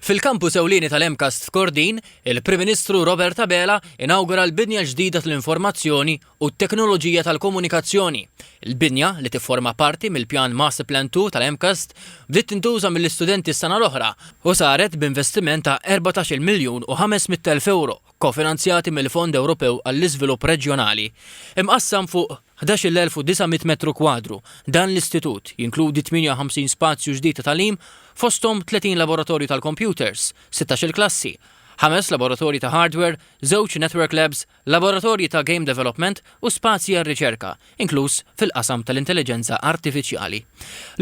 Fil-Kampus Ewlieni tal-MCAST f'Kordin, il-Prim Ministru Robert Abela inawgura l-Binja ġdida tal-Informazzjoni u t-Teknoloġija tal-Komunikazzjoni. Il-binja, li tifforma parti mill-Pjan Masterplan Two tal-MCAST, bdiet tintuża mill-istudenti s-sena l-oħra u saret b'investiment ta' erbatax-il miljun u ħames mitt elf ewro, kofinanzjati mill-Fond Ewropew għall-Iżvilupp Reġjonali, imqassam fuq 11,900 metru kwadru, dan l-istitut jinkludi 58 spazju ġdid ta' tagħlim, fosthom 30 laboratorju tal-kompjuters, sittax-il klassi, ħames laboratorji ta' hardware, żewġ network labs, laboratorji ta' game development u spazji għar-riċerka, inkluż fil-qasam tal-intelliġenza artifiċjali.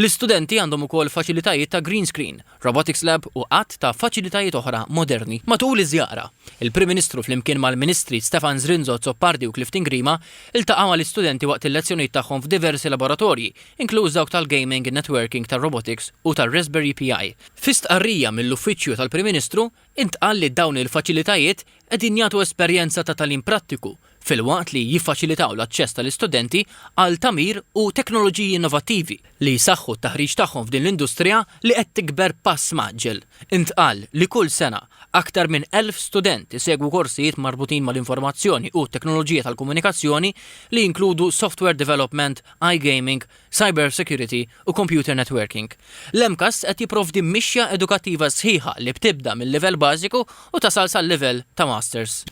L-istudenti għandhom ukoll faċilitajiet ta' green screen Robotics Lab u għadd ta' faċilitajiet oħra moderni. Matul iż-żjara, il-Prim Ministru flimkien mal-Ministri Stefan Zrinzo Azzopardi u Clifton Grima ltaqgħu mal-istudenti waqt il-lezzjonijiet tagħhom f'diversi laboratorji, inkluż dawk tal-Gaming in Networking tar-Robotics u tar-Raspberry PI. Fi stqarrija mill-Uffiċċju tal-Prim Ministru, intqal li dawn il-faċilitajiet qegħdin jagħtu esperjenza ta' tagħlim prattiku filwaqt li jiffaċilitaw l-aċċess tal-istudenti għal tagħmir u teknoloġiji innovattivi li jsaħħu t-taħriġ tagħhom f'din l-industrija li qed tikber b'pass mgħaġġel. Intqal li kull sena, aktar minn 1,000 student isegwu korsijiet marbutin mal-informazzjoni u t-teknoloġija tal-komunikazzjoni li jinkludu software development, iGaming, Cyber Security u Computer Networking. L-MCAST qed jipprovdi mixja edukattiva sħiħa li btibda mil-livell bażiku u tasal sal-livell ta' Masters.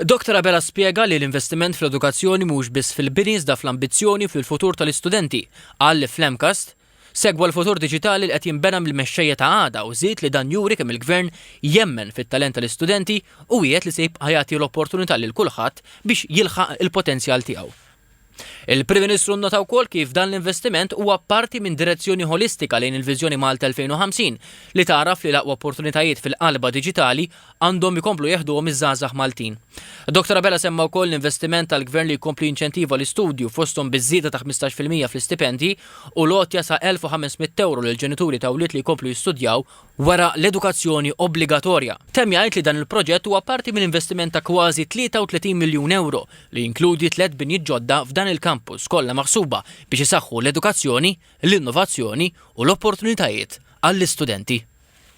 Doctor Abela spjega li l-investiment fl-edukazzjoni mhux biss fil-bini iżda fl-ambizzjoni u fil-futur tal-istudenti. Qal li fl-MCAST segwa l-futur diġitali li qed jinbena mill-mexxejja ta' għada u żied li dan juri kemm il-Gvern jemmen fit-talent tal-istudenti u wiegħed li se jibqa' jagħti l-opportunità lil kulħadd biex jilħaq il-potenzjal tiegħu. Il-Prim Ministru nnota wkoll kif dan l-investiment huwa parti minn direzzjoni ħolistika lejn il-viżjoni Malta 2050, li tagħraf li l-aqwa opportunitajiet fil-qalba diġitali għandhom ikomplu jeħduhom iż-żgħażagħ Maltin. Dottor Abela semma wkoll l-investiment tal-Gvern li jkompli jinċentiva l-istudju, fosthom biż-żieda ta' 15 fil-mija fl-istipendji u l-għotja sa' €1,500 lil ġenituri ta' wlied li jkomplu jistudjaw wara l-edukazzjoni obbligatorja. Temm jgħid li dan il-proġett huwa parti minn investiment ta' kważi 33 miljun ewro li jinkludi tliet binjiet ġodda f'dan il-kampus kollha maħsuba biex isaħħu l-edukazzjoni, l-innovazzjoni u l-opportunitajiet għall-istudenti.